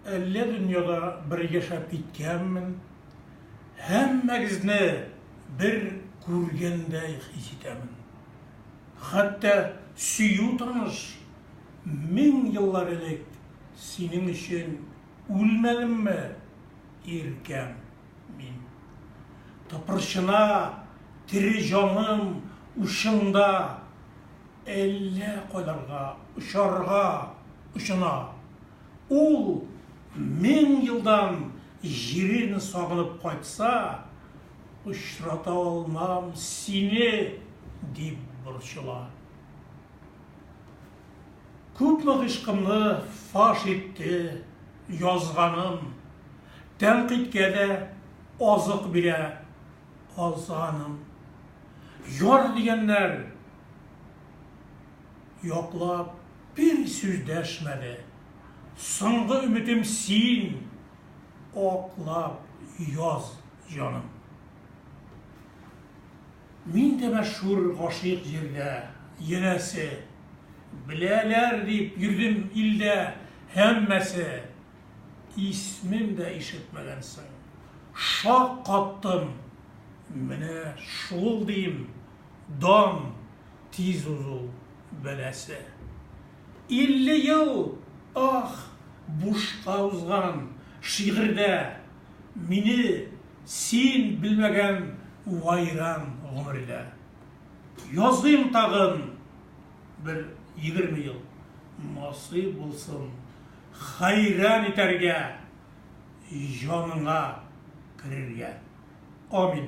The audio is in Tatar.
Әллә дөньяда бер яшәп киткәнмен, һәммәгезне бер күргәндәй хис итәмен. Хәтта сөю таныш, мең еллар элек синең өчен үлмәдемме, иркәм мин. Тыпырчына тере җаным учыңда. Әллә кайларга очарга очына. Ул мең елдан җирен сагынып кайтса, Очрата алмам сине, дип борчыла. Күпме гыйшкымны фаш итте язганым, Тәнкыйтькә дә азык бирә азганым. Яр дигәннәр Яклап бер сүз дәшмәде. Соңгы өметем син, аклап яз, җаным. Мин дә мәшһүр гашыйк җирдә, янәсе. Беләләр дип йөрдем илдә һәммәсе. Исмем дә ишетмәгәнсең. Шаккаттым, менә шул дим. Дан тиз узу бәласе. Илле ел, ах, бушка узган, Шигырьдә мине син белмәгән Вайран гомердә. Языйм тагын бер егерме ел, Насыйп булсын хәйран итәргә, Җаныңа керергә. Амин.